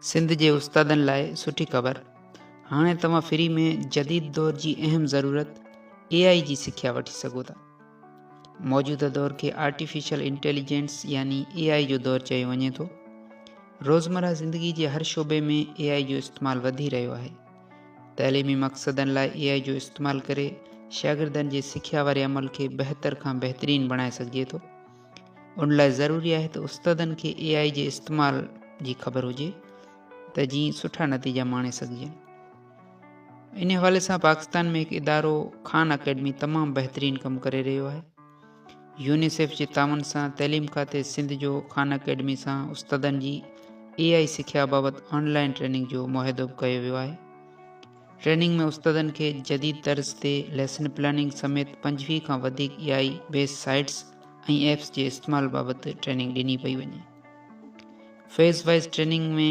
سنڌ جي استادن لاء سٺي خبر، هاڻي توهان فري ۾ جديد دور جي اهم ضرورت اي آء جي سکيا وٺي سگهو ٿا. موجوده دور کي آرٽيفيشل انٽيليجنس يعني اي آء جو دور چيو وڃي ٿو. روزمره زندگي جي هر شعبي ۾ اي آء جو استعمال وڌي رهيو آهي. تعليمي مقصدن لاء اي آء جو استعمال ڪري شاگردن جي سکيا واري عمل کي بهتر کان بهترين بڻائي سگهجي ٿو. ان لاء ضروري آهي ته استادن کي اي آء جي استعمال جي خبر هجي ته جيئن سٺا نتيجا ماڻي سگهجن. ان حوالي سان پاڪستان ۾ هڪ ادارو خان اڪيڊمي تمام بهترين ڪم ڪري رهيو آهي. يونيسيف جي تعاون سان تعليم کاتي سنڌ جو خان اڪيڊمي سان استادن جي اي آء سکيا بابت آن لائن ٽريننگ جو معاهدو به ڪيو ويو آهي. ٽريننگ ۾ استادن کي جديد طرز تي ليسن پلاننگ سميت پنجويهه کان وڌيڪ A I based sites ۽ apps جي استعمال بابت ٽريننگ ڏني پئي وڃي. فيز وائيز ٽريننگ ۾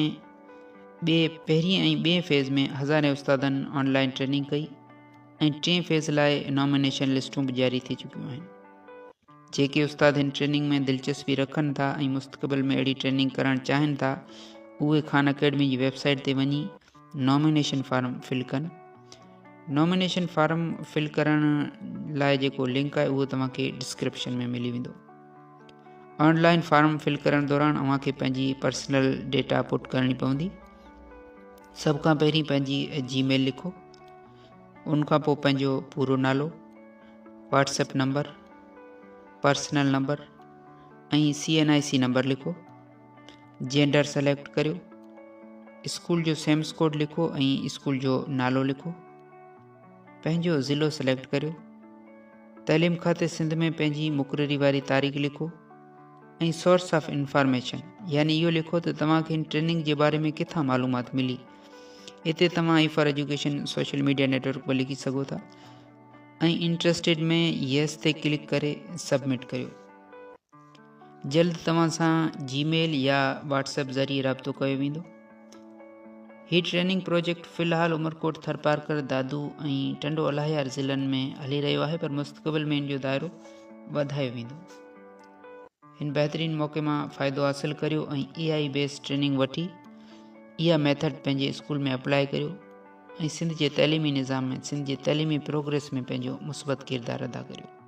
ٻئي پهرين ۽ ٻئي فيز ۾ هزارين استادن آن لائين ٽريننگ ڪئي ۽ ٽئين فيز لاء نامينيشن لسٽون به جاري ٿي چڪيون آهن. جيڪي استاد هن ٽريننگ ۾ دلچسپي رکن ٿا ۽ مستقبل ۾ اهڙي ٽريننگ ڪرڻ چاهين ٿا اهي خان اڪيڊمي جي ويب سائيٽ تي وڃي نامينيشن فارم فل ڪن نامينيشن فارم فل ڪرڻ لاء جيڪو لنڪ آهي اهو توهان کي ڊسڪرپشن ۾ ملي ويندو آنلائن فارم فل ڪرڻ دوران اوهان کي پنهنجي پرسنل ڊيٽا پٽ ڪرڻي پوندي سڀ کان پهرين پنهنجي جي ميل لکو ان کان پوء پنهنجو پورو نالو WhatsApp number personal number ۽ C N I C number لکو جينڊر سليڪٽ ڪريو اسڪول جو سيمس ڪوڊ لکو ۽ اسڪول جو نالو لکو پنهنجو ضلعو سليڪٽ ڪريو تعليم کاتي سنڌ ۾ پنهنجي مقرري واري تاريخ لکو ۽ سورس آف انفارميشن يعني اهو لکو ته توهانکي ان ٽريننگ جي باري ۾ ڪٿان معلومات ملي اتي توهان A for education social media network به لکي سگهو ٿا ۽ انٽرسٽيڊ ۾ يس تي ڪلڪ ڪري سبمٽ ڪريو جلد توهان سان جي ميل يا واٽس ايپ ذريعي رابطو ڪيو ويندو. هي ٽريننگ پروجيڪٽ في الحال عمرڪوٽ، ٿرپارڪر، دادو ۽ ٽنڊو الاهيار ضلعن ۾ هلي رهيو آهي پر مستقبل ۾ ان جو دائرو وڌايو ويندو. هن بهترين موقعي مان فائدو حاصل ڪريو ۽ اي آئي بيس ٽريننگ وٺي اها ميٿڊ پنهنجي اسڪول ۾ اپلائي ڪريو ۽ سنڌ جي تعليمي نظام ۽ سنڌ جي تعليمي پروگريس ۾ پنهنجو مثبت ڪردار ادا ڪريو.